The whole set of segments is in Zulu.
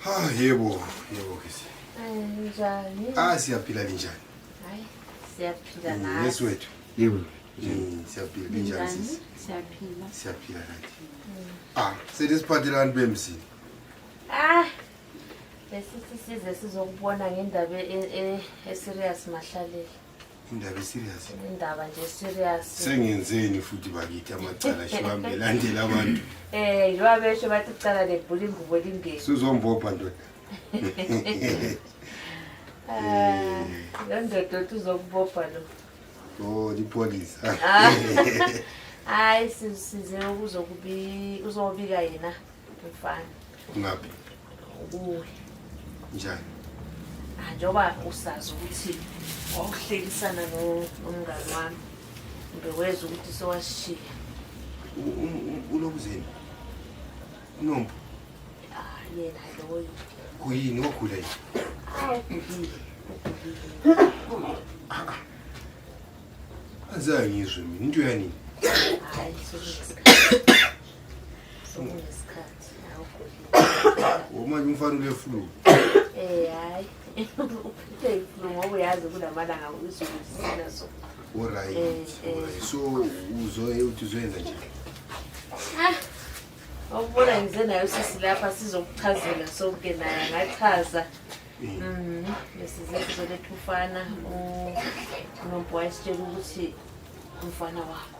Ha, yebo, yebo kisi. Njani? Ah, siyaphila linjani? Hayi, siyaphila mm, nathi. Yes wethu. Yebo. Mm, siyaphila linjani sisi? Siyaphila. Siyaphila kanti. Mm. Ah, selesiphathelani bemzini. Ah, lesi sisize sizokubona ngendaba e, e, e serious mahlalela. indaba eserious indaba nje serious sengenzeni futhi bakithi amacala shiwambe landela abantu eh yiwa besho bathi ucala lebhula ingubo lingeni suzombopha ndoda eh lo ndoda othi uzokubopha lo oh lipolisa ah. hayi size ukuzokubi uzobika yena Mfana. Ngabe. Ubuye. Njani? Ah, njengoba usazi ukuthi wawuhlekisana nomngani wami ngeweza ukuthi sewasishiya ulokuzeni unombo ah, yena loyo kuyini ogula yini anzange ngizwe mina into yanini Womanje umfana ule flu. Eh hayi. Uphethwe iflu ngoba uyazi kulamalanga uzulu sina so. Alright. Eh, eh. So uzoye uthi uzoyenza nje. Ah. Awubona ngize nayo sisi lapha sizokuchazela sonke naye ngachaza. Mhm. Besize sizoletha ufana uNombo wayesitshela ukuthi umfana wakho.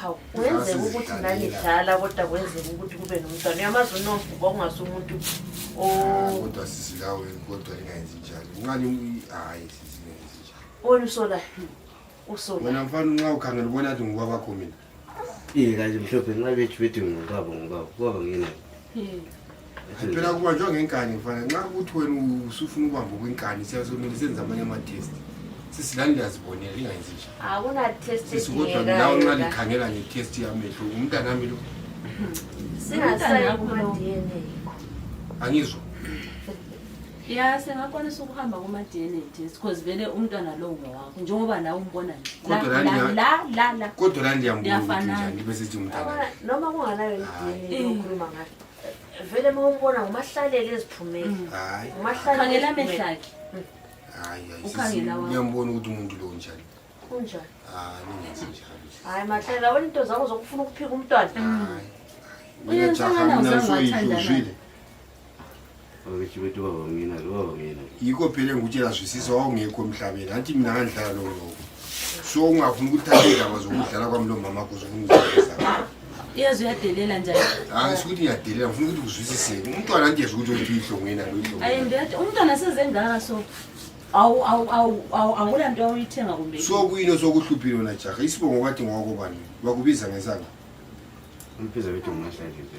hawu kuyenzeka ukuthi nanidlala kodwa kwenzeka ukuthi kube nomntwana uyamazi unomfu kwakungase umuntu ah, kodwa sisilawe kodwa ingayenzi njalo unqani hhayi sisingenzi njalo wena usola usola wena mfana unxa ukhangela ubona athi ngoba kwakho mina iye kanje mhlophe nxa bethu bethi ngobaba ngobaba ubaba ngina phela kubanjwa ngenkani mfana nxa ukuthi wena usufuna ukubamba kwenkani siyazomele senze amanye ama-test sisilani liyazibonela lingayenzi nje akunatesisikodwa nawe nxa likhangela nge-test yamehlo umntana ami lo angizwa ya singakwanisa ukuhamba kuma-d n a test because vele umntwana lowo ngowakho njengoba nawe umbona njekodwa la ndiyambuafanaa bese thi umntana noma kunganayo i d n a yokhuluma ngayo vele uma umbona ngumahlalele eziphumele mm. hayi umahlalele amehlakhe mm. hayi ngiyambona ukuthi umuntu lo njani unjani hayi ningenzi njalo hayi mahlela wena into zakho zokufuna ukuphika umntwana hayi mina cha mina soyidluzile Awuchibeti baba mina lo baba mina. Yiko phela engikutshela zwisisa wawungekho emhlabeni. Athi mina ngandlala lo lo. So ungafuni ukuthatha indaba zokudlala kwami lo mama kuze ungizisa. Iyazi uyadelela njani? Hayi sikuthi ngiyadelela ngifuna ukuthi uzwisise. Umntwana nje ukuthi uthi ihlongo yena lo ihlongo. Ayi ngiyathi umntwana sezengaka so awu awu awu awu awula nto oyithenga kumbe. So kuyini osokuhluphile wena jaha? Isibongo kwathi ngoko bani? Bakubiza ngesanga. Umpiza bethu nginahlanje nje.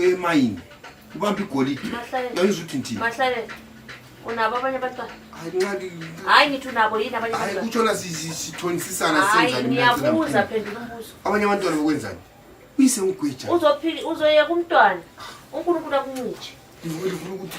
emayini ubamba igolide yayizwa ukuthi ndini unabo abanye abantwana hayi ngithi unabo yini abanye abantwana kutshona sithonisisana senzani ngiyabuza phendula umbuzo abanye abantwana bokwenzani uyise ngigwija uzophila uzoyeka umntwana unkulunkulu akuncitshe ngifuna ukuthi